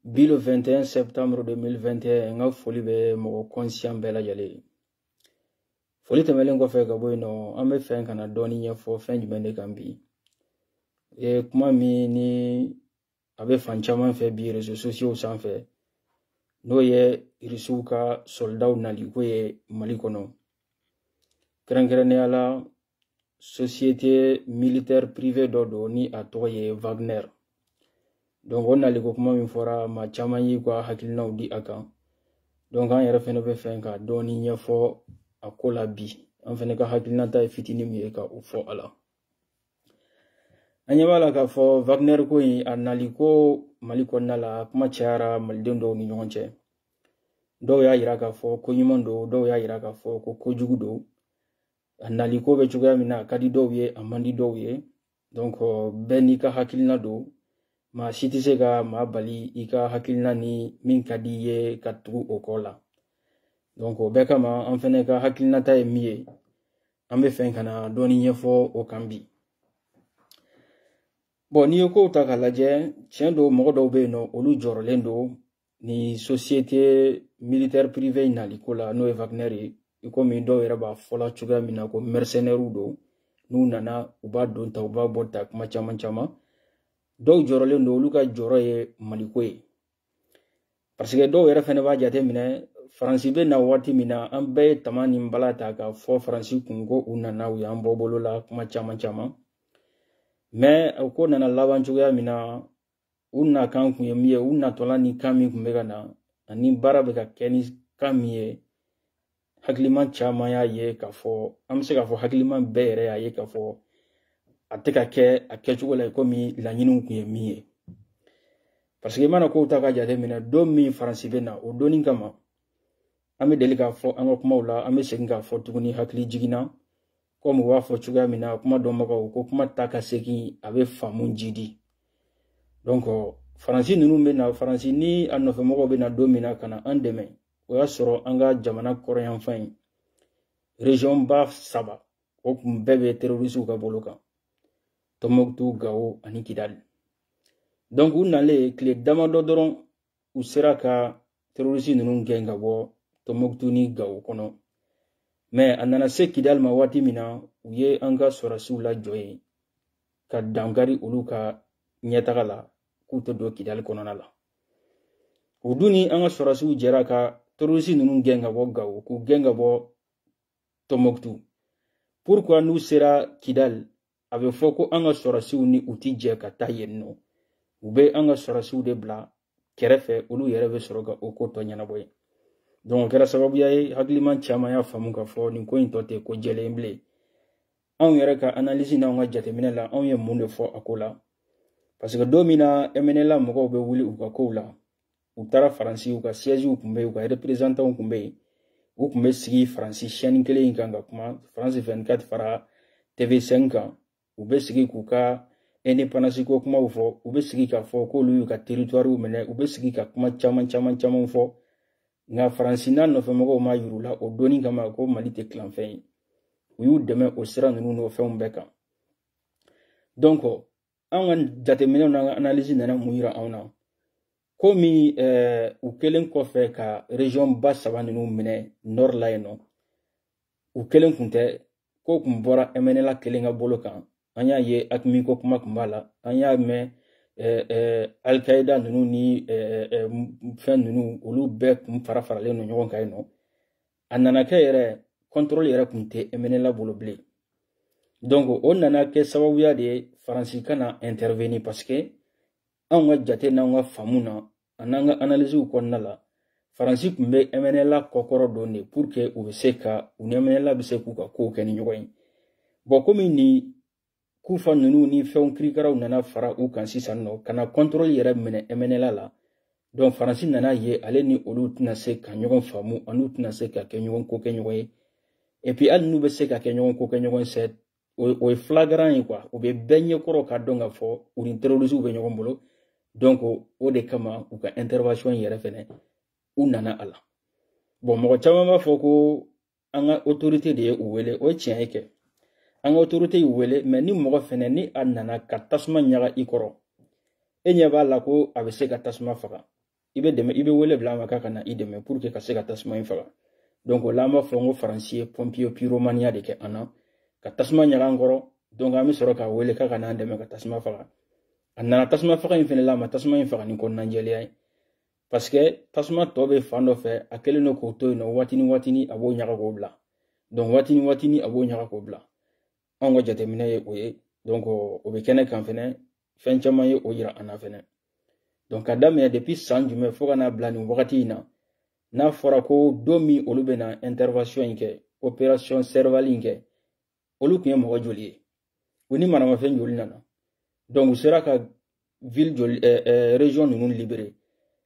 bi le 21 septembre 2021 n ka foli bɛ mɔgɔ kɔnsiyan bɛɛ lajɛlen ye foli tɛmɛlen kɔfɛ ka bɔ yen nɔ an bɛ fɛ ka na dɔɔni ɲɛfɔ fɛn jumɛn de kan bi e kuma min ni a bɛ fan caman fɛ bi réseaux sociaux sanfɛ n'o ye irisiw ka sɔlidaw naliko ye mali kɔnɔ kɛrɛnkɛrɛnnenya la société militaire privée dɔ don ni a tɔgɔ ye wagner donc o naliko kuma min fɔra maa caman y'i ka hakilinaw di a kan donc an yɛrɛ fɛnɛ bɛ fɛ ka dɔɔni ɲɛfɔ a ko la bi an fɛnɛ ka hakilinata ye fitinin min ye ka o fɔ a la an ɲɛ b'a la k'a fɔ wagner ko in a nali ko mali kɔnɔna la kuma cayara maliden dɔw ni ɲɔgɔn cɛ dɔw y'a yira k'a fɔ ko ɲuman don dɔw y'a yira k'a fɔ ko kojugu don a naliko bɛ cogoya min na a ka di dɔw ye a man di dɔw ye donc bɛɛ n'i ka hakilina don maa si tɛ se ka maa bali i ka hakilina ni min ka di i ye ka tugu o kɔ la donc o bɛɛ kama an fɛnɛ ka hakilinata ye min ye an bɛ fɛ ka na dɔɔni ɲɛfɔ o kan bi bon n'i ye kow ta k'a lajɛ tiɲɛ don mɔgɔ dɔw bɛ yen nɔ olu jɔrɔlen don ni société militaire privée in nali ko la n'o ye Wagner ye i komi dɔw yɛrɛ b'a fɔla cogoya min na ko mercenaires don n'u nana u b'a don ta u b'a bɔ ta kuma caman caman dɔw jɔrɔlen don olu ka jɔrɔ ye maliko ye parce que dɔw yɛrɛ fɛnɛ b'a jate minɛ faransi bɛ na waati min na an bɛɛ ye tama ni bala ta ka fɔ faransi kun ko u nana u y'an bɔ bolo la kuma caman caman mais o ko nana laban cogoya min na u nakan kun ye min ye u natɔla ni kan min kun bɛ ka na ani baara bɛ ka kɛ ni kan min ye hakiliman caman y'a ye k'a fɔ an bɛ se k'a fɔ hakiliman bɛɛ yɛrɛ y'a ye k'a fɔ a tɛ ka kɛ a kɛcogo la komi laɲiniw kun ye min ye parce que i mana kow ta ka jateminɛ don min faransi bɛ na o don in kama an bɛ deli k'a fɔ an ka kumaw la an bɛ segin k'a fɔ tuguni hakili jiginna kɔmi u b'a fɔ cogoya min na kuma dɔnbagaw ko kuma ta ka segin a bɛ faamu jiidi donc faransi ninnu bɛ na faransi ni a nɔfɛmɔgɔw bɛ na don min na ka na an dɛmɛ o y'a sɔrɔ an ka jamana kɔrɔnyanfan in région ba saba o kun bɛɛ bɛ terorisiw ka bolo kan tɔnbɔkutu gawo ani kidali donc u nalen tile damadɔ dɔrɔn u sera ka terorisi ninnu gɛn ka bɔ tɔnbɔkutu ni gawo kɔnɔ mais a nana se kidali ma waati min na u ye an ka sɔrɔdasiw lajɔ yen ka dankari olu ka ɲɛtaga la k'u tɛ don kidali kɔnɔna la o dun ni an ka sɔrɔdasiw jɛra ka terorisi ninnu gɛn ka bɔ gawo k'u gɛn ka bɔ tɔnbɔkutu pourquoi n'u sera kidali a bɛ fɔ ko an ka sɔrɔsiw ni u ti jɛ ka taa yen nɔ u bɛ an ka sɔrɔsiw de bila kɛrɛfɛ olu yɛrɛ bɛ sɔrɔ ka o ko tɔ ɲɛnabɔ yen donc o kɛra sababuya ye hakiliman caman y'a faamu k'a fɔ nin ko in tɔ tɛ ko jɛlen bilen anw yɛrɛ ka analyse n'anw ka jateminɛ la anw ye mun de fɔ a ko la parce que don min na mnla mɔgɔw bɛ wuli u ka kow la u taara faransi u ka siègew kun bɛ yen u ka représentantw kun bɛ yen u kun bɛ sigi faransi chaîne kelen in kan ka kuma france 24 fara tv 5 kan u bɛ sigi k'u ka indépendance ko kumaw fɔ u bɛ sigi k'a fɔ k'olu y'u ka territoire minɛ u bɛ sigi ka kuma caman caman caman fɔ nka faransi n'a nɔfɛmɔgɔw m'a yir'u la o don in kama ko mali tɛ tilanfɛn ye u y'u dɛmɛ o sira ninnu n'o fɛnw bɛɛ kan donc an ka jateminɛw n'an ka analyse nana mun yira anw na komi eh, u kɛlen kɔfɛ ka région ba saba ninnu minɛ nord la yen nɔ u kelen kun tɛ ko kun bɔra mnla kelen ka bolo kan an y'a ye aqmi ko kuma kun b'a la an y'a mɛn eh, eh, alkaida ninnu ni fɛn ninnu olu bɛɛ kun fara faralen don ɲɔgɔn kan yen nɔ a nana kɛ yɛrɛ contrôle yɛrɛ kun tɛ mnla bolo bilen donc o nana kɛ sababuya de ye faransi ka na intervenir parce que anw ka jate n'anw ka faamu na an'an ka analysew kɔnɔna la faransi kun bɛ mnla kɔkɔrɔ don de pour que u bɛ se ka u ni mnla bɛ se k'u ka kow kɛ ni ɲɔgɔn ye bon komi nin kufa ninnu ni fɛnw kirikaraw nana fara u kan sisan nɔ ka na contrôle yɛrɛ minɛ mnla la donc faransi nan'a ye ale ni olu tɛna se ka ɲɔgɔn faamu an'u tɛna se ka kɛ ɲɔgɔn ko kɛ ɲɔgɔn ye et puis hali n'u bɛ se ka kɛ ɲɔgɔn ko kɛ ɲɔgɔn fɛ o ye flagrant ye quoi u bɛ bɛɛ ɲɛkɔrɔ k'a dɔn k'a fɔ u ni terroristew bɛ ɲɔgɔn bolo donc o de kama u ka intervention yɛrɛ fɛnɛ u nana a la bon mɔgɔ caman b'a fɔ ko an ka autorité de ye u wele o ye tiɲɛ ye kɛ an ka autorité y'u wele mais ni mɔgɔ fɛnɛ ni a nana ka tasuma ɲaga i kɔrɔ e ɲɛ b'a la ko a bɛ se ka tasuma faga i bɛ dɛmɛ i bɛ wele bila a ma k'a ka na i dɛmɛ pour que ka se ka tasuma in faga donc o la an b'a fɔ n ko faransi ye pompier pyromaneya de kɛ an na ka tasuma ɲaga an kɔrɔ donc an bɛ sɔrɔ k'a wele k'a ka n'an dɛmɛ ka tasuma faga a nana tasuma faga in fɛnɛ la a ma tasuma in faga ni kɔnɔnajɛlenya ye parce que tasuma tɔ bɛ fan dɔ fɛ a kɛlen don k'o to yen nɔ waati ni waati a b'o ɲaga k'o bila donc waati ni waati a b'o ɲaga k'o bila anw ka jateminɛ ye o ye donc o bɛ kɛnɛ kan fɛnɛ fɛn caman ye o yira an na fɛnɛ donc ka daminɛ depuis san jumɛn fo ka n'a bila nin wagati in na n'a fɔra ko don min olu bɛna intervention in kɛ opération serval in kɛ olu tun ye mɔgɔ joli ye u ni maramafɛn joli nana donc u sera ka ville joli eh, eh, région ninnu libéré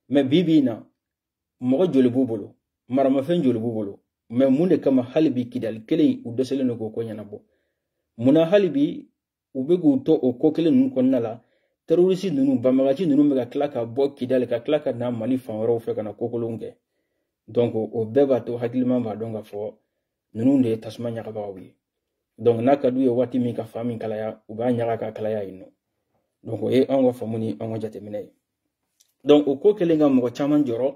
mais bi bi in na mɔgɔ joli b'u bolo maramafɛn joli b'u bolo mais mun de kama hali bi kidali kelen u dɛsɛlen don k'o ko ɲɛnabɔ mun na hali bi u bɛ k'u to o ko kelen ninnu kɔnɔna la terorisi ninnu banbagaci ninnu bɛ ka tila ka bɔ kidali ka tila ka na mali fan wɛrɛw fɛ ka na kokolonw kɛ donc o bɛɛ b'a to hakiliman b'a dɔn ka fɔ ninnu de ye tasuma ɲagabagaw ye donc n'a ka d'u ye waati min ka fan min kalaya u b'a ɲaga ka kalaya yen nɔ donc o ye anw ka faamu ni anw ka jateminɛ ye donc o ko kɛlen ka mɔgɔ caman jɔrɔ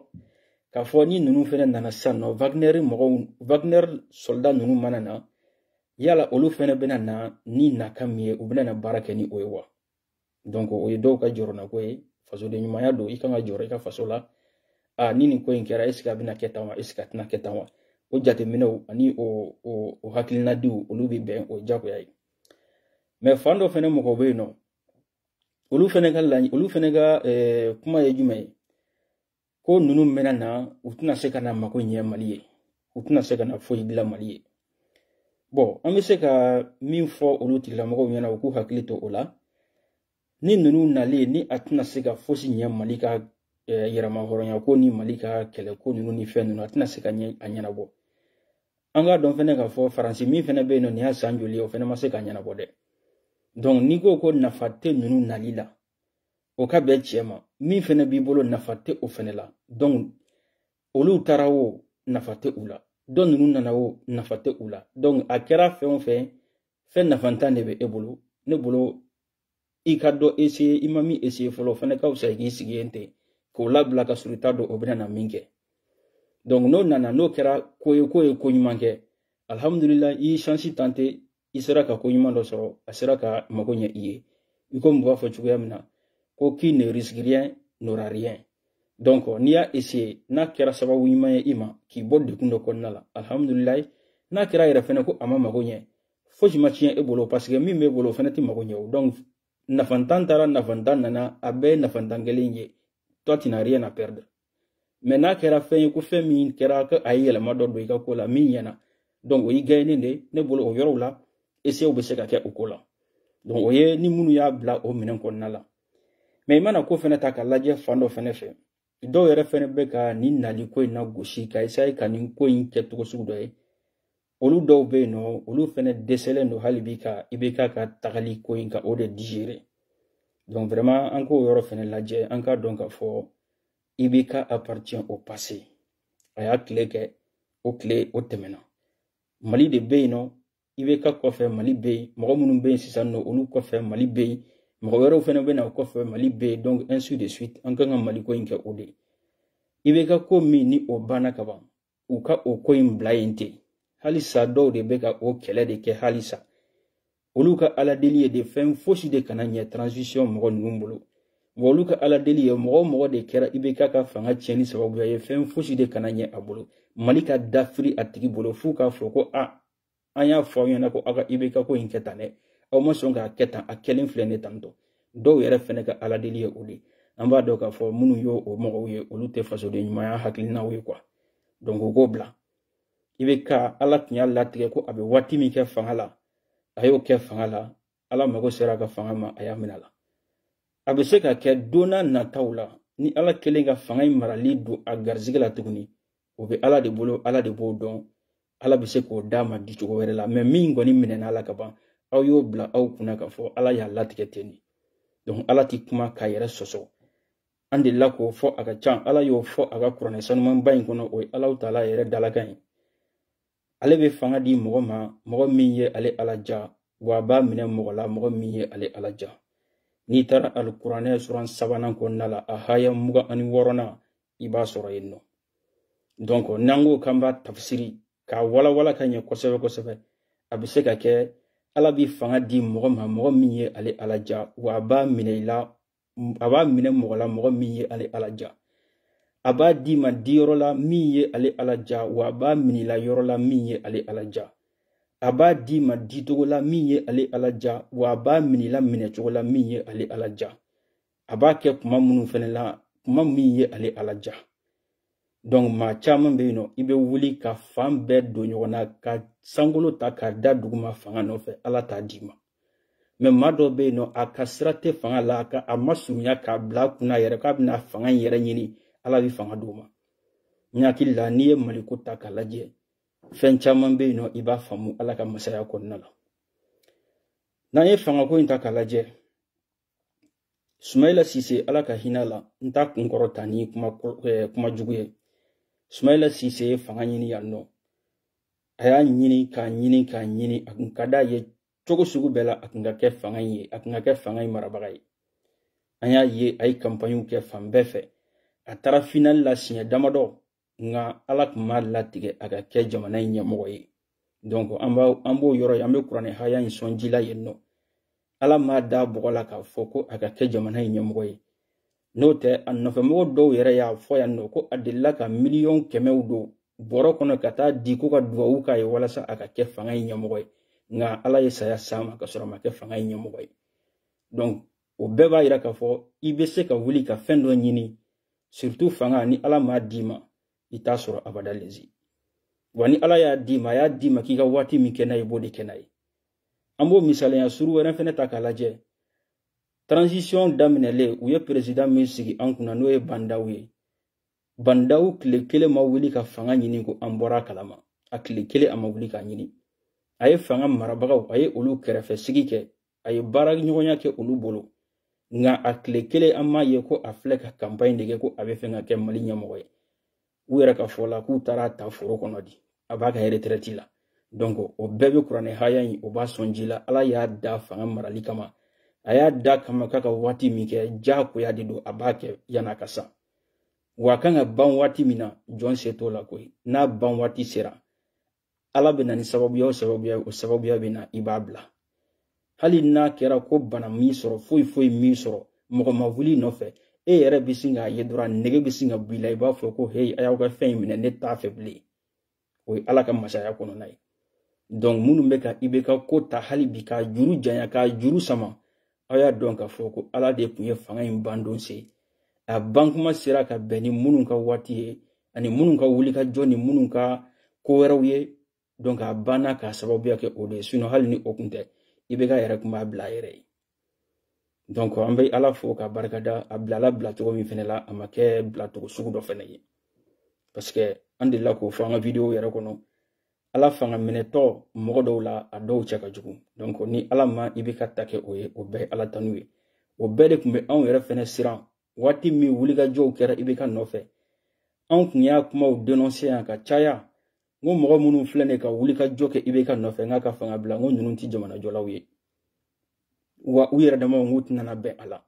k'a fɔ ni ninnu fɛnɛ nana sisan nɔ wagner mɔgɔw wagner soldat ninnu mana na yala olu fɛnɛ bɛna na ni nakan min ye u bɛna na baara kɛ ni o ye wa donc o ye dɔw ka jɔrɔnako ye fasoden ɲumanya don i kan ka jɔrɔ i ka faso la a ni nin ko in kɛra esike a bɛna kɛ tan wa esike a tɛna kɛ tan wa o jateminɛw ani o o o hakilinadiw olu bɛ bɛn o jagoya ye mais fan dɔ fɛnɛ mɔgɔw bɛ yen nɔ olu fɛnɛ ka laɲi olu fɛnɛ ka eh, kuma ye jumɛn ye ko ninnu bɛna na u tɛna se ka na mako ɲɛ mali ye u tɛna se ka na foyi dilan mali ye bɔn an bɛ se ka min fɔ olu tigilamɔgɔw ɲɛna u k'u hakili to o la ni ninnu nali ni a tɛna se ka fosi ɲɛ mali ka eh, yɛrɛmahɔrɔnya ko ni mali ka kɛlɛ ko ninnu ni fɛn ninnu a tɛna se ka ɲɛ a ɲɛnabɔ an k'a dɔn fɛnɛ k'a fɔ faransi min fɛnɛ bɛ yen nɔ nin y'a san joli ye o fɛnɛ ma se k'a ɲɛnabɔ dɛ donc n'i ko ko nafa tɛ ninnu nali la o ka bɛn cɛ mais min fɛnɛ b'i bolo nafa tɛ o fɛnɛ la donc olu taara o nafa tɛ u la dɔ ninnu nana o nafa tɛ u la donc a kɛra fɛn o fɛn fɛn nafantan de bɛ e bolo ne bolo i ka dɔ eseye i ma min eseye fɔlɔ o fɛnɛ ka wusa i k'i sigi yen ten k'o labila ka sɔrɔ i t'a dɔn o bɛna na min kɛ donc n'o nana n'o kɛra ko ye k'o ye ko ɲuman kɛ alhamdulila i ye shansi tante i sera ka ko ɲuman dɔ sɔrɔ a sera ka mago ɲɛ i ye i ko mɔgɔ fɔ cogoya min na ko qui ne risque rien n'aura rien donc n'i y'a essayer n'a kɛra sababu ɲuman ye i ma k'i bɔ degun dɔ kɔnɔna la alhamdulilayi n'a kɛra yɛrɛ fɛnɛ ko a ma mago ɲɛ fosi ma tiɲɛ e bolo paseke min b'e bolo o fɛnɛ tɛ mago ɲɛ o donc nafantan taara nafantan nana a bɛɛ ye nafantan kelen ye toi tu n'as rien à perdre mais n'a kɛra fɛn ye ko fɛn min kɛra ko a ye yɛlɛma dɔ don i ka ko la min ɲɛna donc o y'i gain de ne bolo o yɔrɔw la esew bɛ se ka kɛ o ko la donc o ye ni minnu y'a bila o minɛn kɔnɔna la mais i mana ko fɛnɛ ta ka lajɛ fan dɔ fɛnɛ fɛ dɔw yɛrɛ fɛnɛ bɛ ka nin nali ko in lagosi ka esaye ka nin ko in kɛ togo sugu dɔ ye olu dɔw bɛ yen nɔ olu fɛnɛ dɛsɛlen don hali bi ka ibeka ka tagali ko in ka o de digérer donc vraiment an k'o yɔrɔ fɛnɛ lajɛ an k'a dɔn k'a fɔ ibeka appartient au passé a y'a tile kɛ o tile o tɛmɛna mali de bɛ yen nɔ ibeka kɔfɛ mali bɛ yen mɔgɔ minnu bɛ yen sisan nɔ olu kɔfɛ mali bɛ yen mɔgɔ wɛrɛw fɛnɛ bɛ na o kɔfɛ mali bɛ yen donc ainsi de suite an kan ka mali ko in kɛ o de ye ibeka ko min ni o banna ka ban u ka o ko in bila yen ten halisa dɔw de bɛ ka o kɛlɛ de kɛ halisa olu ka ala deli ye de fɛn fosi de kana ɲɛ transition mɔgɔ ninnu bolo wa olu ka ala deli ye mɔgɔ o mɔgɔ de kɛra ibeka ka fanga tiɲɛni sababuya ye fɛn fosi de kana ɲɛ a bolo mali ka dafiri a tigi bolo f'u k'a fɔ ko a an y'a fɔ aw ɲɛna ko aw ka ibeka ko in kɛ tan dɛ aw ma sɔn k'a kɛ tan a kɛlen filɛ nin ye tan tɔ dɔw yɛrɛ fɛnɛ ka ala deli ye o de an b'a dɔn k'a fɔ minnu ye o mɔgɔw ye olu tɛ fasoden ɲumanya hakilinaw ye quoi donc u k'o bila ibeka ala tun y'a latigɛ ko a bɛ waati min kɛ fanga la a y'o kɛ fanga la ala mago sera a ka fanga ma a y'a minɛ a la a bɛ se ka kɛ don n'a nataw la ni ala kɛlen ka fanga in marali don a garisɛgɛ la tuguni o bɛ ala de bolo ala de b'o dɔn ala bɛ se k'o d'a ma di cogo wɛrɛ la mais min kɔni minɛna a la ka ban aw y'o bila aw kunna k'a fɔ ala y'a latigɛ ten de donc ala ti kuma k'a yɛrɛ sɔsɔ an delila k'o fɔ a ka can ala y'o fɔ a ka kuranɛ sanumanba in kɔnɔ o ye ala taala yɛrɛ dalakan ye ale bɛ fanga di mɔgɔ ma mɔgɔ min ye ale ala ja wa a b'a minɛ mɔgɔ la mɔgɔ min ye ale ala ja n'i taara alikuranɛ suran sabanan kɔnɔna la a haya mugan ani wɔɔrɔnan i b'a sɔrɔ yen nɔ donc n'an ko k'an b'a tafsiri k'a walawala ka ɲɛ kosɛbɛ kosɛbɛ a bɛ se ka kɛ ala bɛ fanga di mɔgɔ ma mɔgɔ min ye ale ala ja wa a b'a minɛ i la a b'a minɛ mɔgɔ la mɔgɔ min ye ale ala ja a b'a d'i ma di yɔrɔ la min ye ale ala ja wa a b'a minɛ i la yɔrɔ la min ye ale ala ja a b'a d'i ma di cogo la min ye ale ala ja wa a b'a minɛ i la minɛ cogo la min ye ale ala ja a b'a kɛ kuma minnu fɛnɛ la kuma min ye ale ala ja donc maa caman bɛ yen nɔ i bɛ wuli ka fan bɛɛ don ɲɔgɔn na ka sankolo ta k'a da duguma fanga nɔfɛ ala t'a d'i ma mais maa dɔ bɛ yen nɔ a ka sira tɛ fanga la a ka a ma surunya k'a bila a kunna yɛrɛ k'a bɛna fanga in yɛrɛ ɲini ala bɛ fanga d'o ma n hakili la n'i ye maliko ta k'a lajɛ fɛn caman bɛ yen nɔ i b'a faamu ala ka masaya kɔnɔna la n'an ye fangako in ta k'a lajɛ sumayila sise ala ka hinɛ a la n t'a kunkɔrɔta ni kuma, eh, kuma jugu ye sumayila sise ye fanga ɲini yan nɔ a y'a ɲini k'a ɲini k'a ɲini a kun ka d'a ye cogo sugu bɛɛ la a kun ka kɛ fanga in ye a kun ka kɛ fanga in marabaga ye an y'a ye a ye kanpaɲiw kɛ fan bɛɛ fɛ a taara finali la siɲɛ damadɔ nka ala tun m'a latigɛ a ka kɛ jamana in ɲɛmɔgɔ ye donc an b'a an b'o yɔrɔ ye an bɛ kuranɛ haya in sɔn ji la yen nɔ ala m'a da bɔgɔ la k'a fɔ ko a ka kɛ jamana in ɲɛmɔgɔ ye n'o tɛ a nɔfɛmɔgɔ dɔw yɛrɛ y'a fɔ yan nɔ ko a delila ka miliyɔn kɛmɛw don bɔrɔ kɔnɔ ka taa di ko ka dubabu k'a ye walasa a ka kɛ fanga in ɲɛmɔgɔ ye nka ala ye saya s'a ma ka sɔrɔ a ma kɛ fanga in ɲɛmɔgɔ ye donc o bɛɛ b'a yira k'a fɔ i bɛ se ka wuli ka fɛn dɔ ɲini surtout fanga ni ala m'a d'i ma i t'a sɔrɔ abada lezi wa ni ala y'a d'i ma a y'a d'i ma k'i ka waati min kɛ n'a ye i b'o de kɛ n'a ye an b'o misalenya suru wɛrɛ fɛnɛ ta k'a lajɛ transition daminɛlen u ye perezidan min sigi an kunna n'o ye ba ndaw ye ba ndaw tile kelen ma wuli ka fanga ɲini ko an bɔra a kalama a tile kelen a ma wuli k'a ɲini a ye fanga marabagaw a ye olu kɛrɛfɛ sigi kɛ a ye baara ɲɔgɔnya kɛ olu bolo nka a tile kelen an m'a ye ko a filɛ ka kanpaɲi de kɛ ko a b'a fɛ ka kɛ mali ɲɛmɔgɔ ye u yɛrɛ ka fɔ la k'u taara a ta foro kɔnɔ di a b'a ka retraite la donc o bɛɛ bɛ kuranɛ haya in o b'a sɔn ji la ala y'a da fanga marali kama a y'a da kama k'a ka waati min kɛ diyagoya de don a b'a kɛ yanni a ka sa wa a kan ka ban waati min na jɔn se t'o la koyi n'a ban waati sera ala bɛ na ni sababuya o sababuya o sababuya bɛ na i b'a bila hali n'a kɛra ko bana m'i sɔrɔ foyi foyi m'i sɔrɔ mɔgɔ ma wuli i nɔfɛ e yɛrɛ bɛ sin k'a ye dɔrɔn nege bɛ sin ka b'i la i b'a fɔ ko heyi a y'aw ka fɛn in minɛ ne t'a fɛ bilen o ye ala ka masaya kɔnɔna ye donc minnu bɛ ka ibk ko ta hali bi k'a juru janya k'a juru sama aw y'a dɔn k'a fɔ ko ala de tun ye fanga in ban don se a bankuma sera ka bɛn ni minnu ka waati ye ani minnu ka wulikajɔ ni minnu ka ko wɛrɛw ye donc a banna k'a sababuya kɛ o de ye sinon hali ni o kun tɛ ibk yɛrɛ kun b'a bila a yɛrɛ ye donc an bɛ ala fo ka barikada a bilala bilacogo min fɛnɛ la a ma kɛ bilacogo sugu dɔ fɛnɛ ye parce que an delila k'o fɔ an ka videow yɛrɛ kɔnɔ ala fanga minɛtɔ mɔgɔ dɔw la a dɔw cɛ ka jugu donc ni ala ma ibk ta kɛ o ye o bɛɛ ye ala tanu ye o bɛɛ de tun bɛ anw yɛrɛ fɛnɛ siran waati min wulikajɔw kɛra ibk nɔfɛ anw tun y'a kumaw denɔnse yan ka caya n ko mɔgɔ minnu filɛ ne ka wulikajɔ kɛ ibk nɔfɛ n k'a ka fanga bila n ko ninnu tɛ jamanajɔlaw ye wa u yɛrɛ damaw n k'u tɛna bɛn a la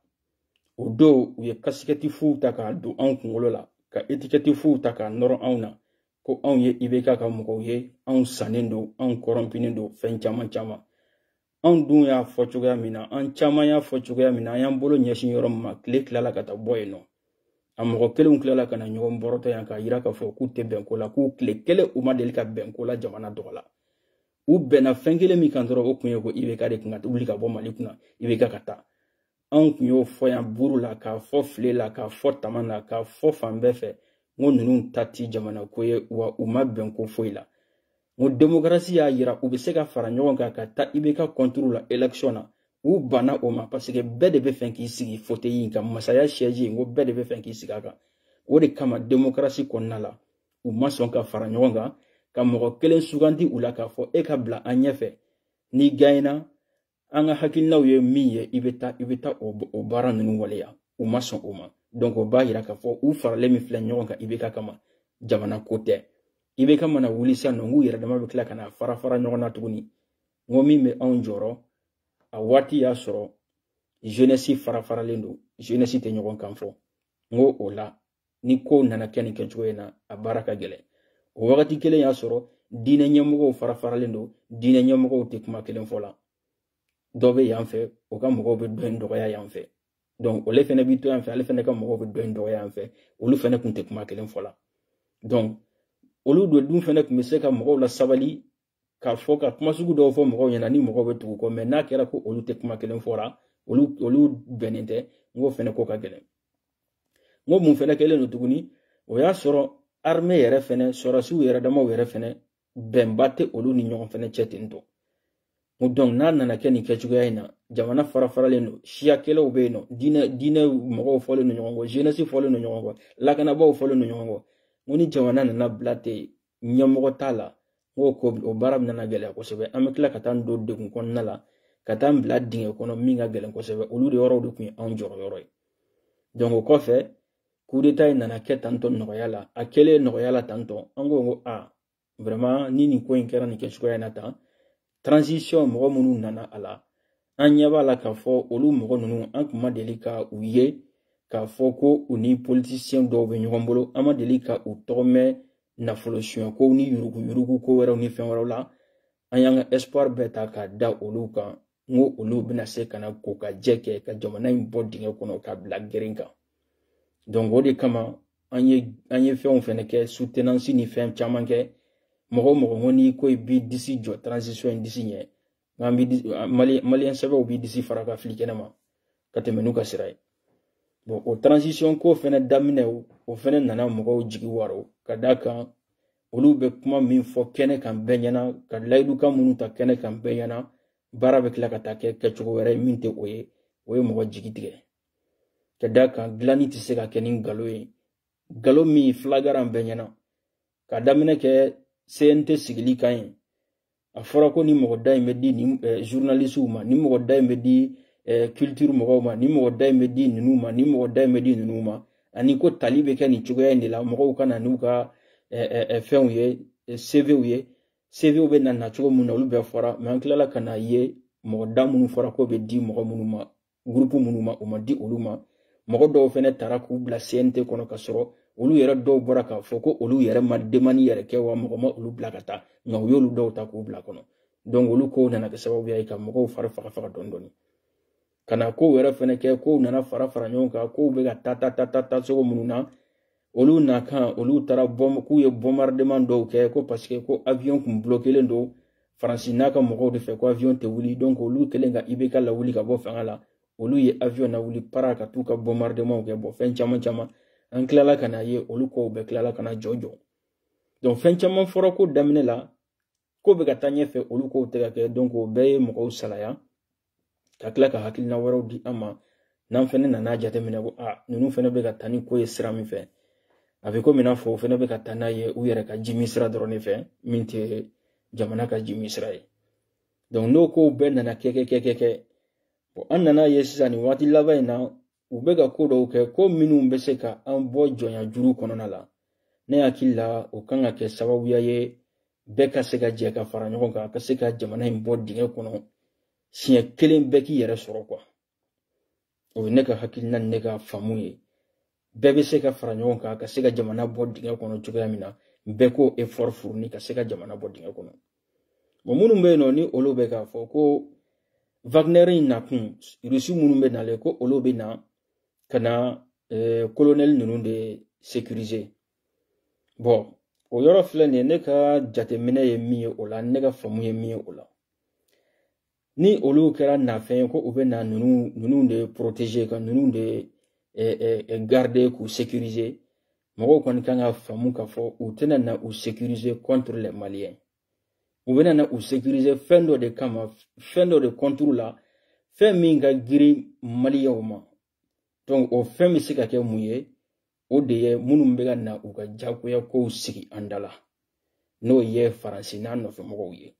o dɔw u ye kasikɛti fuw ta k'a don anw kunkolo la ka etikɛti fuw ta k'a nɔrɔ anw na ko anw ye ibk ka mɔgɔw ye anw sannen don anw kɔrɔnpinen don fɛn caman caman anw dun y'a fɔ cogoya min na an caman y'a fɔ cogoya min na an y'an bolo ɲɛsin yɔrɔ min ma tile tilala ka taa bɔ yen nɔ a mɔgɔ kelenw tilala ka na ɲɔgɔn bɔrɔtɔ yan k'a yira k'a fɔ k'u tɛ bɛn ko la k'u tile kelen u ma deli ka bɛn ko la jamana tɔgɔ la u bɛnna fɛn kelen min kan dɔrɔn o tun ye ko ibk de tun ka wuli ka bɔ mali kunna ibk ka taa anw kun y'o fɔ yan buru la k'a fɔ file la k'a fɔ tama la k'a fɔ fan bɛɛ fɛ n ko ninnu ta ti jamana ko ye wa u ma bɛn ko foyi la n ko demokarasi y'a yira u bɛ se ka fara ɲɔgɔn kan ka taa IBK kɔnturu la elekisɔn na u banna o ma paseke bɛɛ de bɛ fɛ k'i sigi foteyi in kan masaya sɛji n ko bɛɛ de bɛ fɛ k'i sigi a kan o de kama demokarasi kɔnɔna la u ma sɔn ka fara ɲɔgɔn kan ka mɔgɔ kelen sugandi u la k'a fɔ e ka bila an ɲɛfɛ n'i ganyina an ka hakilinaw ye min ye i bɛ taa i bɛ taa o baara ninnu waleya u ma sɔn o ma donc o b'a yira k'a fɔ u faralen min filɛ ɲɔgɔn kan IBK kama jamana ko tɛ IBK mana wuli sisan nɔ n k'u yɛrɛ dama bɛ tila ka na fara fara ɲɔgɔn na tuguni n ko min bɛ anw jɔrɔ a waati y'a sɔrɔ jeunesse fara faralen don jeunesse tɛ ɲɔgɔn kan fɔ n ko o la ni ko nana kɛ nin kɛcogoya in na a baara ka gɛlɛn o wagati kelen y'a sɔrɔ diinɛ ɲɛmɔgɔw fara faralen don diinɛ ɲɛmɔgɔw tɛ kuma kelen fɔ la dɔ bɛ yan fɛ o ka mɔgɔw bɛ dɔ in dɔgɔya yan fɛ donc olu fɛnɛ bɛ to yan fɛ ale fɛnɛ ka mɔgɔw bɛ dɔ in dɔgɔya yan fɛ olu fɛnɛ kun tɛ kuma kelen fɔ la donc olu dɔ dun fɛnɛ kun bɛ se ka mɔgɔw lasabali ka fɔ ka kuma sugu dɔw fɔ mɔgɔw ɲɛna ni mɔgɔw bɛ tugu u kɔ mɛ n'a kɛra ko olu tɛ kuma kelen fɔra olu olu bɛnnen tɛ n k'o fɛnɛ ko ka gɛlɛn n ko mun fɛnɛ kɛlen don tuguni o y'a sɔrɔ armée yɛrɛ fɛnɛ sɔrɔsiw yɛrɛ damaw yɛrɛ fɛnɛ bɛnba tɛ olu ni ɲɔgɔn fɛnɛ cɛ ten tɔ ko donc n'a nana kɛ nin kɛcogoya in na jamana fara faralen don siya kɛlɛw bɛ yen nɔ diinɛ diinɛ mɔgɔw fɔlen don ɲɔgɔn kɔ jeunesse fɔlen don ɲɔgɔn kɔ lakanabaaw fɔlen don ɲɔgɔn kɔ n ko ni jamana nana bila ten ɲɛmɔgɔ t'a la n ko ko o baara bɛna na gɛlɛya kosɛbɛ an bɛ tila ka taa an don degun kɔnɔna la ka taa an bila dingɛ kɔnɔ min ka gɛlɛn kosɛbɛ olu de yɔrɔw de tun ye anw jɔrɔ yɔrɔ ye donc o kɔfɛ kudeta in nana kɛ tantɔ nɔgɔya la a kɛlen nɔgɔya la tantɔ an ko ko vraiment ni nin ko in kɛra nin kɛcogoya in na tan transition mɔgɔ minnu nana a la an ɲɛ b'a la k'a fɔ olu mɔgɔ ninnu an tun ma deli ka u ye k'a fɔ ko u ni politisiyɛn dɔw bɛ ɲɔgɔn bolo an ma deli ka u tɔgɔ mɛn nafolo sonyɛkow ni yuruguyurugu ko wɛrɛw ni fɛn wɛrɛw la an y'an ka espoir bɛɛ ta k'a da olu kan n ko olu bɛna se ka na kokajɛ kɛ ka jamana in bɔ dingɛ kɔnɔ k'a bila geren kan donc o de kama an ye an ye fɛnw fɛnɛ kɛ soutenance ni fɛn caman kɛ mɔgɔ o mɔgɔ ko n'i ko i b'i disi jɔ transition in disi ɲɛ n'an bɛ maliyɛn sɛbɛw b'i disi fara k'a fili kɛnɛ ma ka tɛmɛ n'u ka sira ye bon o transition ko fɛnɛ daminɛ o fɛnɛ nana mɔgɔw jigi waaro ka d'a kan olu bɛ kuma min fɔ kɛnɛ kan bɛɛ ɲɛna ka layidukan minnu ta kɛnɛ kan bɛɛ ɲɛna baara bɛ tila ka taa kɛ kɛcogo wɛrɛ ye min tɛ o ye o ye mɔgɔ jigi tigɛ ka da kan dilanni tɛ se ka kɛ ni nkalon ye nkalon min flagrant bɛɛ ɲɛna ka daminɛ kɛ cnt sigili kan ye a fɔra ko ni mɔgɔ da in bɛ di nin eh, journalistew ma ni mɔgɔ da in bɛ di eh, culture mɔgɔw ma ni mɔgɔ da in bɛ di ninnu ma ni mɔgɔ da in bɛ di ninnu ma ani ko tali bɛ kɛ nin cogoya in de la mɔgɔw ka na n'u ka eh, fɛnw ye cvw ye cvw bɛ na na cogo min na olu bɛɛ fɔra mais an tilala ka na ye mɔgɔ da minnu fɔra ko bɛ di mɔgɔ minnu ma gurupu minnu ma o ma di olu ma mɔgɔ dɔw fɛnɛ taara k'u bila cnt kɔnɔ ka sɔrɔ olu yɛrɛ dɔw bɔra k'a fɔ ko olu yɛrɛ ma demande yɛrɛ kɛ wa mɔgɔ ma olu bila ka taa nka u y'olu dɔw ta k'u bila kɔnɔ donc olu kow nana kɛ sababuya ye ka mɔgɔw fari faga faga dɔɔni dɔɔni ka na kow yɛrɛ fɛnɛ kɛ kow nana fara fara ɲɔgɔn kan kow bɛ ka taa taa taa taa taa cogo minnu na olu nakan olu taara k'u ye bombardement dɔw kɛ ko parce que ko avion kun bloquelen don faransi n'a ka mɔgɔw de fɛ ko avion tɛ wuli donc olu kɛlen ka ibk lawuli ka bɔ fanga la olu ye avion lawuli para ka t'u ka bombardementw kɛ bon fɛn caman caman an tilala ka na ye olu kow bɛɛ tilala ka na jɔ jɔ donc fɛn caman fɔra ko daminɛ la ko bɛ ka taa ɲɛfɛ olu kow tɛ ka kɛ donc o bɛɛ ye mɔgɔw salaya ka tila ka hakilina wɛrɛw di an ma n'an fɛnɛ nana jateminɛ ko a ninnu fɛnɛ bɛ ka taa ni ko ye sira min fɛ a bɛ komi i n'a fɔ o fɛnɛ bɛ ka taa n'a ye u yɛrɛ ka jimi sira dɔrɔn de fɛ min tɛ jamana ka jimi sira ye donc n'o kow bɛɛ nana kɛ kɛ kɛ kɛ kɛ an nana ye sisan nin waati laban in na u bɛ ka ko dɔw kɛ ko minnu bɛ se ka an bɔ jɔnya juru kɔnɔna la ne hakili la o kan ka kɛ sababuya ye bɛɛ ka se ka jɛ ka fara ɲɔgɔn kan ka se ka jamana in bɔ dingɛ kɔnɔ siɲɛ kelen bɛɛ k'i yɛrɛ sɔrɔ quoi o ye ne ka hakilina ni ne ka faamu ye bɛɛ bɛ se ka fara ɲɔgɔn kan ka se ka jamana bɔ dingɛ kɔnɔ cogoya min na bɛɛ k'o effort fourni ka se ka jamana bɔ dingɛ kɔnɔ bon minnu bɛ yen nɔ ni olu bɛ k'a fɔ ko wagner in nakun rusi minnu bɛ nalen ko olu bɛ na ka na eh, kolonɛli ninnu de sécuriser bon o yɔrɔ filɛ nin ye ne ka jateminɛ ye min ye o la ne ka faamu ye min ye o la ni olu kɛra nafɛn ye ko u bɛ na ninnu ninnu de protéger ka ninnu de eh, eh, eh, garder k'u sécuriser mɔgɔw kɔni kan ka faamu k'a fɔ u tɛna na u sécuriser contre les maliens u bɛna na u sécuriser fɛn dɔ de kama fɛn dɔ de contre la fɛn min ka girin maliyɛnw ma donc o fɛn bɛ se ka kɛ mun ye o de ye minnu bɛ ka na u ka jagoya kow sigi an da la n'o ye faransi n'a nɔfɛmɔgɔw ye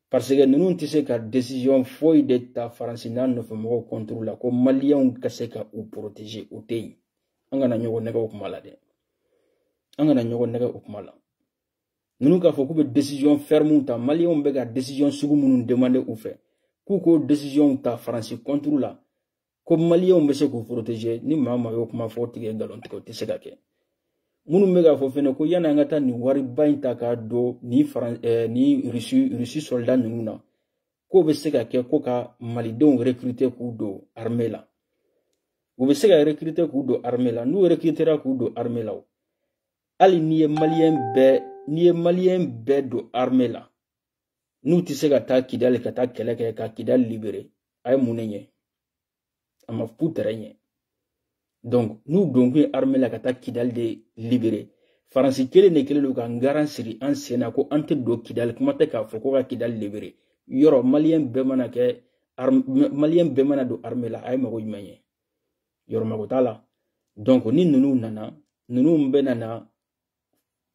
parce que ninnu tɛ se ka décision foyi de ta faransi n'a nɔfɛmɔgɔw contre la ko maliyɛnw ka se ka u protéger o tɛ yen an kana ɲɔgɔn nɛgɛ o kuma la dɛ an kana ɲɔgɔn nɛgɛ o kuma la ninnu k'a fɔ k'u bɛ décision ferme ta maliyɛnw bɛ ka décision sugu minnu demander u fɛ k'u k'o décision ta faransi contre la ko maliyɛnw bɛ se k'u protege ni maa maa y'o kuma fɔ o tigi ye nkalon tigɛ o tɛ se ka kɛ minnu bɛ k'a fɔ fɛnɛ ko yanni an ka taa nin wariba in ta k'a don nin faran eh, ni rusi rusi sɔlida ninnu na k'o bɛ se ka kɛ ko ka malidenw recruter k'u don armée la u bɛ se ka recruter k'u don armée la n'u recrutera k'u don armée la o hali n'i ye maliyɛn bɛɛ n'i ye maliyɛn bɛɛ don armée la n'u tɛ se ka taa kidali ka taa kɛlɛ kɛ ka kidali libere a ye mun de ɲɛ a ma fu tɛrɛ ɲɛ donc n'u donkun ye arme la ka taa kidali de libere faransi kelen de kelen don ka n garan siri an sen na ko an tɛ don kidali kuma tɛ k'a fɔ ko ka kidali libere yɔrɔ maliyɛn bɛɛ mana kɛ maliyɛn bɛɛ mana don arme la a ye mago jumɛn ɲɛ yɔrɔ mago t'a la donc ni ninnu nana ninnu bɛna na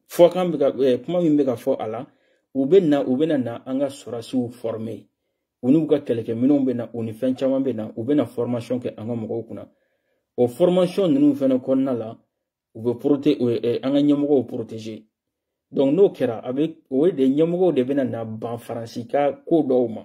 fɔkan bɛ ka eh, kuma min bɛ ka fɔ a la u bɛ na u bɛna na an ka sɔrɔdasiw fɔrme u n'u ka kɛlɛkɛminɛnw bɛ na u ni fɛn caman bɛ na u bɛna fɔrmasiyɔn kɛ an ka mɔgɔw kunna o fɔrmasiyɔn ninnu fana kɔnɔna la u bɛ porote eh, eh, an ka ɲɛmɔgɔw poroteze dɔnku n'o kɛra a bɛ o de ɲɛmɔgɔw de bɛna na ban faransi ka ko dɔw ma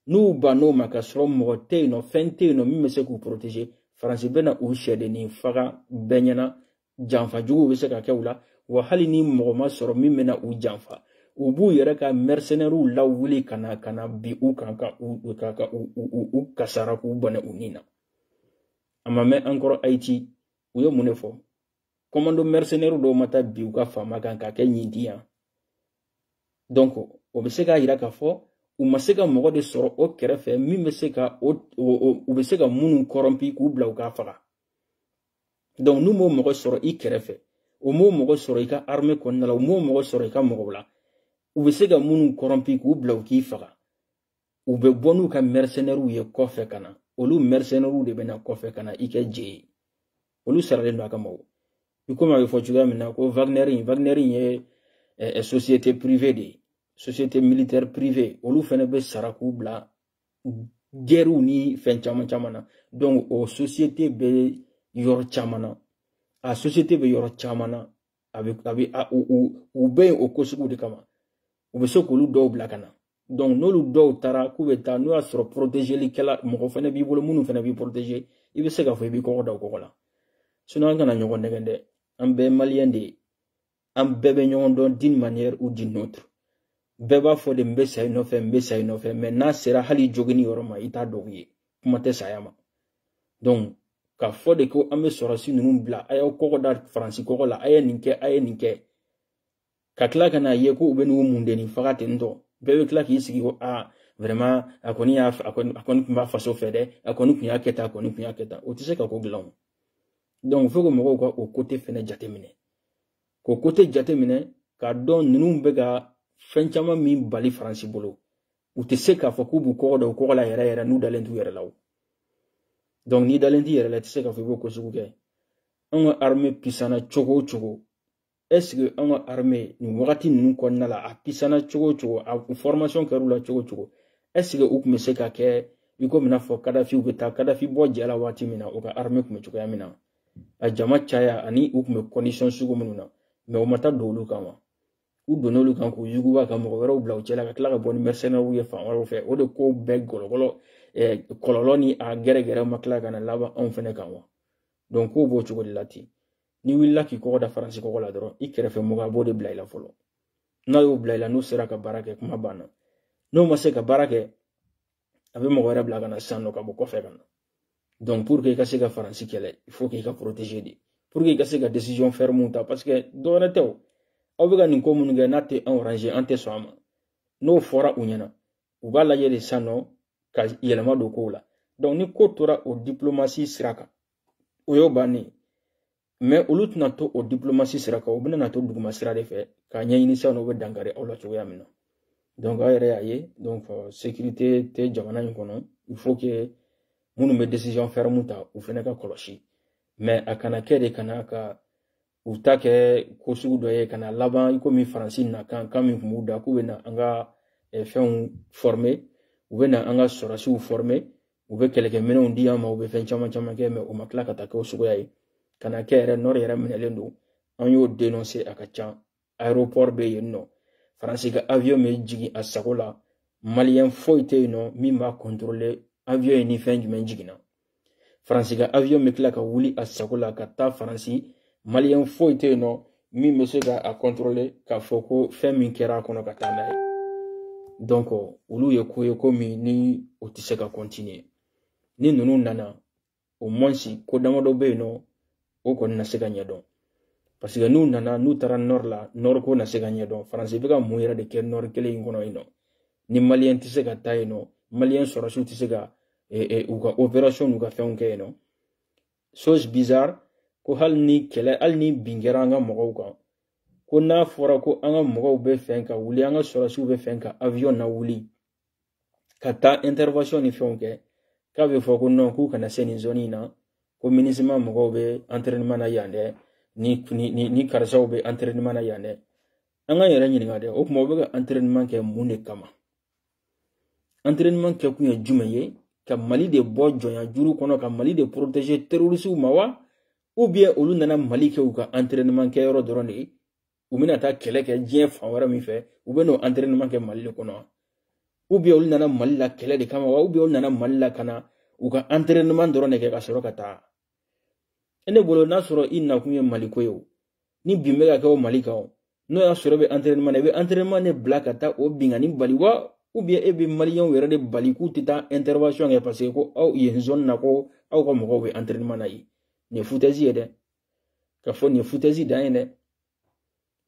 n'u bann'o ma ka sɔrɔ mɔgɔ tɛ yen nɔ fɛn tɛ yen nɔ min bɛ se k'u poroteze faransi bɛna u sɛdennin faga bɛɛ ɲɛna janfa juguw bɛ se ka kɛ u la wa hali ni mɔgɔ ma sɔrɔ min bɛna u janfa u b'u yɛrɛ ka mɛrisenɛriw lawuli ka na ka na bin u kan ka u ka ka u u u kasara k'u bɔnɛ u ni na a ma mɛn an kɔrɔ ayiti u ye mun de fɔ kɔmando mɛrisenɛri dɔw ma taa bin u ka faama kan k'a kɛ ɲin di yan donc o bɛ se k'a yira k'a fɔ u ma se ka mɔgɔ de sɔrɔ o kɛrɛfɛ min bɛ se ka o u bɛ se ka minnu kɔrɔnpi k'u bila u k'a faga donc n'u m'o mɔgɔ sɔrɔ i kɛrɛfɛ u m'o mɔgɔ sɔrɔ i ka armée kɔnɔna la u m'o mɔgɔ sɔrɔ i ka mɔgɔw la u bɛ se ka minnu kɔrɔnpi k'u bila u k'i faga u bɛ bɔ n'u ka mercenaires ye kɔfɛ ka na olu mercenaires de bɛ na kɔfɛ ka na i kɛ je ye olu saralen don a kama o i komi a bɛ fɔ cogoya min na ko Wagner in Wagner in ye eh, eh, société privée de ye société militaire privée olu fana bɛ sara k'u bila gɛriw ni fɛn caman caman na donc o société bɛ yɔrɔ caman na a société bɛ yɔrɔ caman na a bɛ a bɛ a u u u bɛ yen o ko sugu de kama u bɛ se k'olu dɔw bila ka na donc n'olu dɔw taara k'u bɛ taa n'o y'a sɔrɔ protegelikɛla mɔgɔ fana b'i bolo minnu fana b'i protege i bɛ se k'a fɔ i b'i kɔgɔ da o kɔgɔ la sinon an kana ɲɔgɔn nɛgɛn dɛ an bɛɛ ye maliyɛn de ye an bɛɛ bɛ ɲɔgɔn dɔn d'une manière ou d'une autre bɛɛ b'a fɔ de n bɛ sa i nɔfɛ n bɛ sa i nɔfɛ mais n'a sera hali jogini yɔrɔ ma i t'a tigi ye kuma tɛ saya ma donc ka fɔ de ko an bɛ sɔrɔsi ninnu bila a y'aw kɔgɔ da faransi kɔgɔ la a ye nin kɛ a ye nin kɛ ka tila ka n'a ye ko u bɛ n'u mun de nin faga ten tɔ bɛɛ bɛ tila k'i sigi ko aa vraiment a kɔni y'a a kɔni a kɔni tun b'a faso fɛ dɛ a kɔni tun y'a kɛ tan a kɔni tun y'a kɛ tan o tɛ se ka ko dilan o donc faut que mɔgɔw ka o côté fɛnɛ jateminɛ k'o côté jateminɛ k'a dɔn ninnu bɛ ka fɛn caman min bali faransi bolo u tɛ se k'a fɔ k'u b'u kɔgɔ da u kɔgɔ la yɛrɛ yɛrɛ n'u dalen t'u yɛrɛ la o donc n'i dalen t'i yɛrɛ la i tɛ se k'a fɔ i b'o ko sugu kɛ anw ka armée pisana cogo o cogo est ce que anw ka armée nin wagati ninnu kɔnɔna la a pisana cogo o cogo a formation kɛr'u la cogo o cogo est ce que u tun bɛ se ka kɛ i komi i n'a fɔ kadafi u bɛ taa kadafi bɔ jɛ la waati min na u ka armée tun bɛ cogoya min na a jama caya ani u tun bɛ condition sugu minnu na mais u ma taa don olu kan wa u donna olu kan k'u yuguba ka mɔgɔ wɛrɛw bila u cɛla ka tila ka bɔ ni mercenairew ye fan wɛrɛw fɛ o de ko bɛɛ gɔlɔgɔlɔ kɔlɔlɔ ni a gɛrɛgɛrɛ ma tila ka na laban anw fɛnɛ kan wa donc ko b'o cogo de la ten n'i wulila k'i kɔgɔ da faransi kɔgɔ la dɔrɔn i kɛrɛfɛ mɔgɔ a b'o de bila i la fɔlɔ n'a y'o bila i la n'o sera ka baara kɛ kuma banna n'o ma se ka baara kɛ a bɛ mɔgɔ wɛrɛ bila ka na sisan nɔ ka bɔ kɔfɛ ka na donc pour que i ka se ka faransi kɛlɛ il faut que i ka protéger de pour que i ka se ka décision ferme ta parce que dɔwɛrɛ tɛ o aw bɛ ka nin ko minnu kɛ n'a tɛ an arranger an tɛ sɔn a ma n'o fɔra u ɲɛna u b'a lajɛ de sisan nɔ ka yɛlɛma don kow la donc ni ko tora o diplomasi sira kan o y'o bannen ye mais olu tɛna to o diplomasi sira kan u bɛna na to duguma sira de fɛ k'a ɲɛɲini sisan u bɛ dankari aw la cogoya min na donc aw yɛrɛ y'a ye donc euh, sécurité tɛ jamana in kɔnɔ il faut que minnu bɛ décision ferme ta u fana ka kɔlɔsi mais a kana kɛ de kana ka u ta kɛ ko sugu dɔ ye ka na laban i komi faransi na kan kan min tun b'u da k'u bɛ na an ka eh, fɛnw former u bɛ na an ka sɔrɔsiw former u bɛ kɛlɛkɛminɛnw di an ma u bɛ fɛn caman caman kɛ mais u ma tila ka taa kɛ o suguya ye ka na kɛ yɛrɛ nord yɛrɛ minɛlen don an y'o dénoncer a ka can aéroport bɛ yen nɔ faransi ka avion bɛ jigin a sago la maliyɛn foyi tɛ yen nɔ min b'a contrôler avion ye ni fɛn jumɛn jiginna faransi ka avion bɛ tila ka wuli a sago la ka taa faransi maliyɛn foyi tɛ yen nɔ min bɛ se ka a contrôler k'a fɔ ko fɛn min kɛra a kɔnɔ ka taa n'a ye donc olu ye ko ye ko min ni o tɛ se ka continuer ni ninnu nana au moins ko damadɔ bɛ yen nɔ o kɔni na se ka ɲɛdɔn parce que n'u nana n'u taara nord la nord ko na se ka ɲɛdɔn faransi bɛ ka mun yɛrɛ de kɛ nord kelen in kɔnɔ yen nɔ ni maliyɛn tɛ se ka taa yen nɔ maliyɛn sɔrɔsiw tɛ se ka eh, eh, u ka opération n'u ka fɛnw kɛ yen nɔ chose bizarre ko hali ni kɛlɛ hali ni bin kɛra an ka mɔgɔw kan ko n'a fɔra ko an ka mɔgɔw b'a fɛ ka wuli an ka sɔrɔsiw b'a fɛ ka avion nawuli ka taa intervention ni fɛnw kɛ k'a bɛ fɔ ko non k'u kana se nin zone in na ko minusma mɔgɔw bɛ entraînement na yan dɛ ni ni ni, ni karisaw bɛ entraînement na yan dɛ an k'an yɛrɛ ɲininka dɛ o tuma u bɛ ka entraînement kɛ mun de kama entraînement kɛ kun ye jumɛn ye ka mali de bɔ jɔnya juru kɔnɔ ka mali de protéger terrorisiw ma wa ou bien olu nana mali kɛ u ka entraînement kɛ yɔrɔ dɔrɔn de ye u bɛna taa kɛlɛ kɛ diɲɛ fan wɛrɛ min fɛ u bɛ n'o entraînement kɛ mali de kɔnɔ ou bien olu nana mali la kɛlɛ de kama wa ou bien olu nana mali la ka na u ka entraînement dɔrɔn de kɛ ka sɔrɔ ka taa ne bolo n'a sɔrɔ i nakun ye maliko ye o ni bin bɛ ka kɛ o mali kan o n'o y'a sɔrɔ bɛ entraînement na i bɛ entraînement de bila ka taa o binkanni bali wa ou bien e bɛ maliyɛnw yɛrɛ de bali k'u tɛ taa intervention kɛ parce que ko aw yen zone na ko aw ka mɔgɔw bɛ entraînement na yen nin ye foutaise ye dɛ k'a fɔ nin ye foutaise dan ye dɛ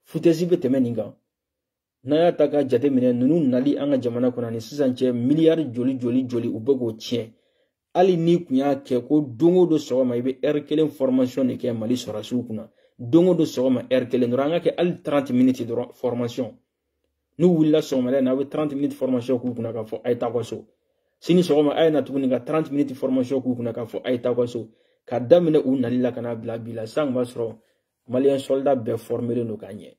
foutaise bɛ tɛmɛ nin kan n'a y'a ta k'a jateminɛ ninnu nali an ka jamana kɔnɔ ni sisan cɛ miliyari joli joli joli u bɛ k'o tiɲɛ hali n'i kun y'a kɛ ko don o don sɔgɔma i bɛ ɛri kelen fɔrɔmasiyɔn de kɛ mali sɔrɔdasiw kunna don o don sɔgɔma ɛri kelen dɔrɔn an k'a kɛ hali taranti miniti dɔrɔn fɔrɔmasiyɔn n'u wulila sɔgɔmada in na aw bɛ taranti miniti fɔrɔmasiyɔn k'u kunna k'a fɔ a ye taa aw ka so sini sɔgɔma a ye na tuguni ka taranti miniti fɔrɔmasiyɔn k'u kunna k'a fɔ a ye taa aw ka so ka daminɛ u nali la ka n'a bila bi la sisan kun b'a sɔrɔ maliyɛn sɔlida bɛɛ fɔrɔmelen don ka ɲɛ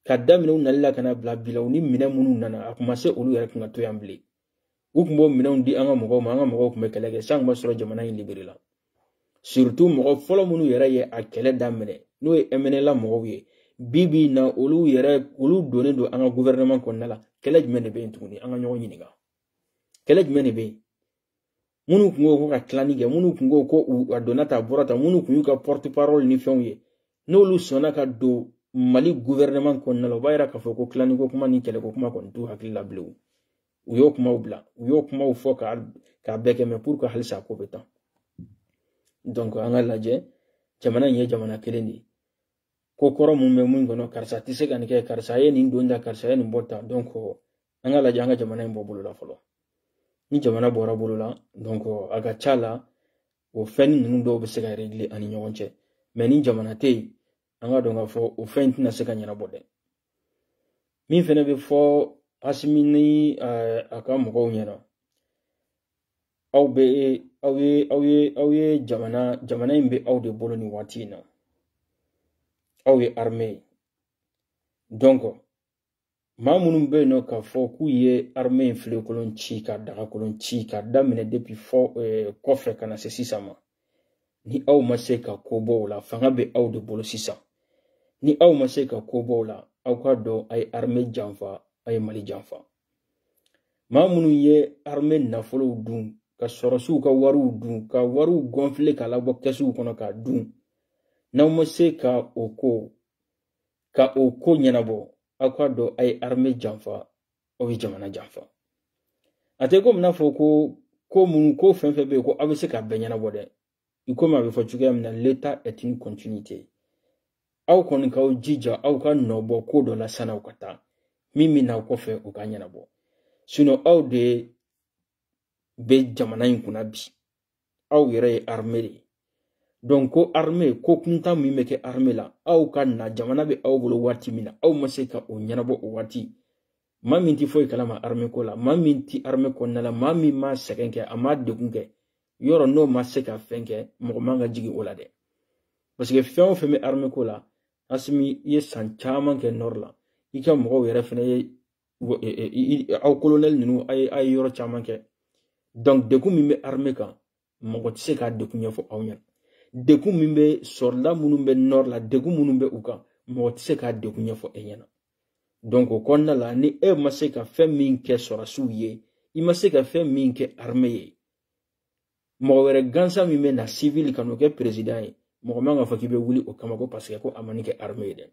ka daminɛ u nali la ka n'a bila bi la u ni minɛn minnu nana a kun ma se olu yɛrɛ kun ka to yan bilen u kun b'o minɛnw di an ka mɔgɔw ma an ka mɔgɔw kun bɛ kɛlɛ kɛ san kun b'a sɔrɔ jamana in libéré la surtout mɔgɔ fɔlɔ minnu yɛrɛ ye a kɛlɛ daminɛ n'o ye mnla mɔgɔw ye bi bi in na olu donnen don an ka gouvernement kɔnɔna la kɛlɛ jumɛn de bɛ yen tuguni an ka ɲɔgɔn ɲininka kɛlɛ jumɛn de bɛ yen minnu kun ko ko ka tilani kɛ minnu kun ko ko a donna tan a bɔra tan minnu kun y'u ka porte parole ni fɛnw ye n'olu sɔnna ka don mali gouvernement kɔnɔna la o b'a yira k'a fɔ ko tilaniko kuma ni kɛlɛko kuma kɔni t'u hakili la bilen u y'o kumaw bila u y'o kumaw fɔ ka k'a bɛɛ kɛ mais pour que halisa ko bɛ tan donc an k'a lajɛ jamana in ye jamana kelen de ye ko kɔrɔ mun bɛ mun kɔnɔ karisa tɛ se ka nin kɛ karisa ye nin don tan karisa ye nin bɔ tan donc an k'a lajɛ an ka jamana in bɔ bolo la fɔlɔ ni jamana bɔra bolo la donc a ka ca la o fɛn ninnu dɔw bɛ se ka régler an ni ɲɔgɔn cɛ mais ni jamana tɛ yen an k'a dɔn k'a fɔ o fɛn in tɛna se ka ɲɛnabɔ dɛ min fɛnɛ bɛ fɔ asimi ni eh, a ka mɔgɔw ɲɛ na aw bɛ aw ye aw ye aw ye jamana jamana in bɛ aw de bolo nin waati in na aw ye armée ye donc maa minnu bɛ yen nɔ k'a fɔ k'u ye armée in filenkolon ci ka dagakolon ci ka daminɛ depuis fɔ eh, kɔfɛ ka na se sisan ma ni aw ma se ka ko bɔ o la fanga bɛ aw de bolo sisan ni aw ma se ka ko bɔ o la aw k'a dɔn a ye armée janfa a ye mali janfa maa minnu ye armée nafolow dun ka sɔrɔsiw ka wariw dun ka wariw gɔnfile k'a labɔ kɛsuw kɔnɔ k'a dun n'aw ma se ka o ko ka o ko ɲɛnabɔ aw k'a dɔn a ye arme janfa aw ye jamana janfa a tɛ komi n'a fɔ ko ko minnu ko fɛn fɛn bɛ yen ko aw bɛ se k'a bɛɛ ɲɛnabɔ dɛ i komi a bɛ fɔ cogoya min na l'état est une continuité aw kɔni k'aw jija aw ka nɔ bɔ ko dɔ la san'aw ka taa min bɛ n'aw kɔfɛ o k'a ɲɛnabɔ sinɔn aw de bɛ jamana in kunna bi aw yɛrɛ ye arme de ye donc ko arme ko kuntan min bɛ kɛ arme la aw ka na jamana bɛ aw bolo waati min na aw ma se ka o ɲɛnabɔ o waati maa min tɛ foyi kalama arme ko la maa min tɛ arme kɔnɔna la maa min ma sɛgɛn kɛ a ma degun kɛ yɔrɔ n'o ma se ka fɛn kɛ mɔgɔ man ka jigin o la dɛ parce que fɛn o fɛn bɛ arme ko la asimi i ye san caman kɛ nɔri la i ka mɔgɔw yɛrɛ fɛnɛ ye aw kolonɛli ninnu a ye a ye yɔrɔ caman kɛ dɔnku degun min bɛ arime kan mɔgɔ tɛ se k'a degun ɲɛfɔ aw ɲɛna degun min bɛ sɔrɔda minnu bɛ nɔri la degun minnu bɛ u kan mɔgɔ tɛ se k'a degun ɲɛfɔ e ɲɛna dɔnku o kɔnɔna la ni e ma se ka fɛn min kɛ sɔrɔsiw ye i ma se ka fɛn min kɛ arime ye mɔgɔ wɛrɛ gansan min bɛ na sivili ka n'o kɛ perezidan ye mɔgɔ man k'a fɔ k'i bɛ wuli o kama ko paseke ko a ma nin kɛ arme ye dɛ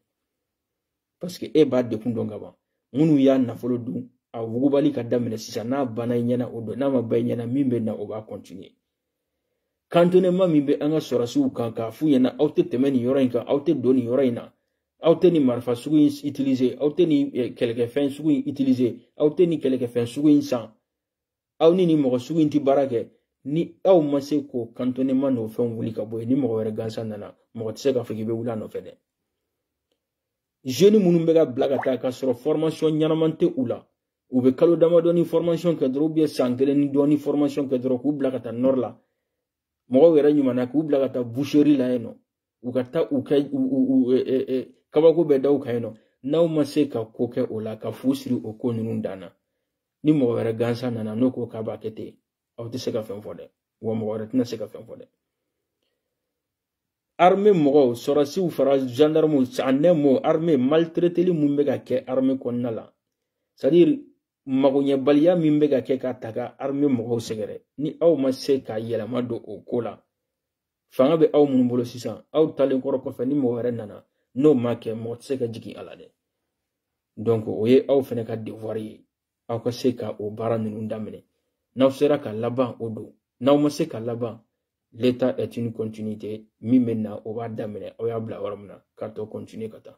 paseke e b'a degun dɔn ka ban minnu y'a nafolo dun a wugubali ka daminɛ sisan n'a banna i ɲɛna o don n'a ma ban i ɲɛna min bɛ na o b'a kɔntiniye kantonema min bɛ an ka sɔrɔsiw kan k'a f'u ɲɛna aw tɛ tɛmɛ nin yɔrɔ in kan aw tɛ don nin yɔrɔ in na aw tɛ nin marifa sugu in utiliser aw tɛ nin eh, kɛlɛkɛfɛn sugu in utiliser aw tɛ nin kɛlɛkɛfɛn sugu in san aw ni nin mɔgɔ sugu in tɛ baara kɛ ni aw ma se k'o kantonema n'o fɛnw wuli ka bɔ yen ni mɔgɔ wɛrɛ gansan nana mɔgɔ tɛ se k'a fɔ k'i bɛ wuli a nɔfɛ dɛ zeni minnu bɛ ka bila ka taa k'a sɔrɔ fɔrmasiyɔn ɲɛnama tɛ u la u bɛ kalo damadɔnin fɔrmasiyɔn kɛ dɔrɔn ubiyɛn san kelen ni dɔɔni fɔrmasiyɔn kɛ dɔrɔn k'u bila ka taa nɔri la mɔgɔw yɛrɛ ɲumanna k'u bila ka taa buseri la yen nɔ u ka taa u kɛ kabako bɛɛ da u kan yen nɔ n'aw ma se ka ko kɛ o la ka fu siri o ko ninnu dan na ni mɔgɔ wɛrɛ gansan nana n'o ko k'a b'a kɛ ten aw tɛ se ka fɛn fɔ dɛ wa mɔgɔ wɛrɛ tɛna se ka fɛn fɔ dɛ arme mɔgɔw sɔrɔsiw fara zandarmuw anɛmo arme maltreteli mun bɛ ka kɛ arme kɔnɔna la sadiri magoɲɛbaliya min bɛ ka kɛ ka taga arme mɔgɔw sɛgɛrɛ ni aw ma se ka yɛlɛma don o ko la fanga bɛ aw minnu bolo sisan aw taalen kɔrɔ kɔfɛ ni mɔgɔ wɛrɛ nana n'o ma kɛ mɔgɔ tɛ se ka jigin a la dɛ donc o ye aw fɛnɛ ka devoir ye aw ka se ka o baara ninnu daminɛ n'aw sera ka laban o don n'aw ma se ka laban l'état est une continuité min bɛ na o b'a daminɛ aw y'a bila yɔrɔ min na k'a tɔ continuer ka taa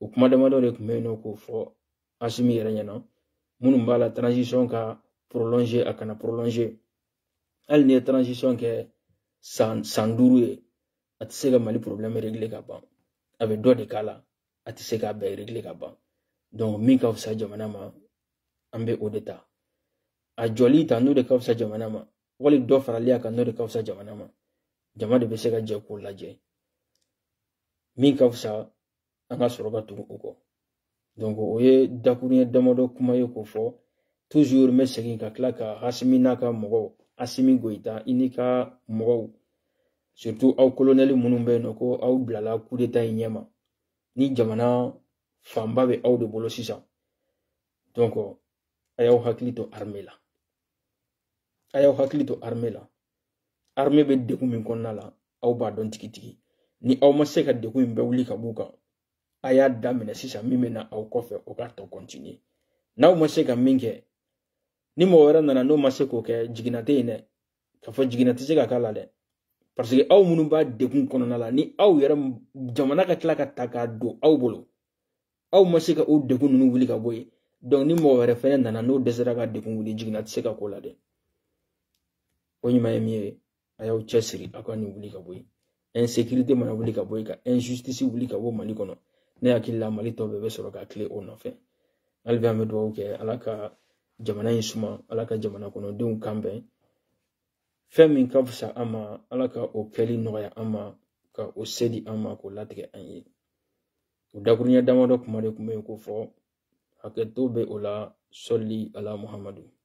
o kuma damadɔ de tun bɛ yen nɔ k'o fɔ asimi yɛrɛ ɲɛna minnu b'a la transition ka prolonger a kana prolonger hali n'i ye transition kɛ san duuru ye a tɛ se ka mali problème régler ka ban a bɛ dɔ de k'a la a tɛ se k'a bɛɛ régler ka ban donc min ka fisa jamana ma an bɛ o de ta a jɔli ta n'o de ka fisa jamana ma wali dɔ farali a kan n'o de ka fisa jamana ma jama de bɛ se ka jɛ k'o lajɛ min ka fisa an ka sɔrɔ ka tugu o kɔ donc o ye dakuruɲɛ damadɔ kuma ye k'o fɔ toujours n bɛ segin ka tila ka asimi n'a ka mɔgɔw asimi goyita i n'i ka mɔgɔw surtout aw kolonɛli minnu bɛ yen nɔ ko aw bilala kudeta in ɲɛma ni jamana fanba bɛ aw de bolo sisan donc a y'aw hakili to arme la a y'aw hakili to arme la armée bɛ degun min kɔnɔna la aw b'a dɔn tigitigi ni aw ma se ka degun in bɛɛ wuli ka b'u kan a y'a daminɛ sisan min bɛ na aw kɔfɛ o k'a tɔ continuer n'aw ma se ka min kɛ ni mɔgɔ wɛrɛ nana n'o ma se k'o kɛ jiginna tɛ yen dɛ k'a fɔ jiginna tɛ se ka k'a la dɛ parce que aw minnu b'a degun kɔnɔna la ni aw yɛrɛ jamana ka tila ka ta k'a don aw bolo aw ma se ka o degun ninnu wuli ka bɔ yen donc ni mɔgɔ wɛrɛ fɛnɛ nana n'o dɛsɛra ka degun wuli jiginna tɛ se ka k'o la dɛ o ɲuman ye min ye a y'aw cɛsiri aw ka nin wuli ka bɔ yen insécurité mana wuli ka bɔ yen ka injustice wuli ka bɔ mali kɔnɔ ne hakili la mali tɔ bɛɛ bɛ sɔrɔ ka tilen o nɔfɛ hali bi an bɛ dugawu kɛ ala ka jamana in suma ala ka jamana kɔnɔdenw kan bɛn fɛn min ka fisa an ma ala ka o kɛli nɔgɔya an ma ka o se di an ma k'o latigɛ an ye o dakuruɲɛ damadɔ kuma de tun bɛ yen k'o fɔ hakɛto bɛ o la sali ala muhammadu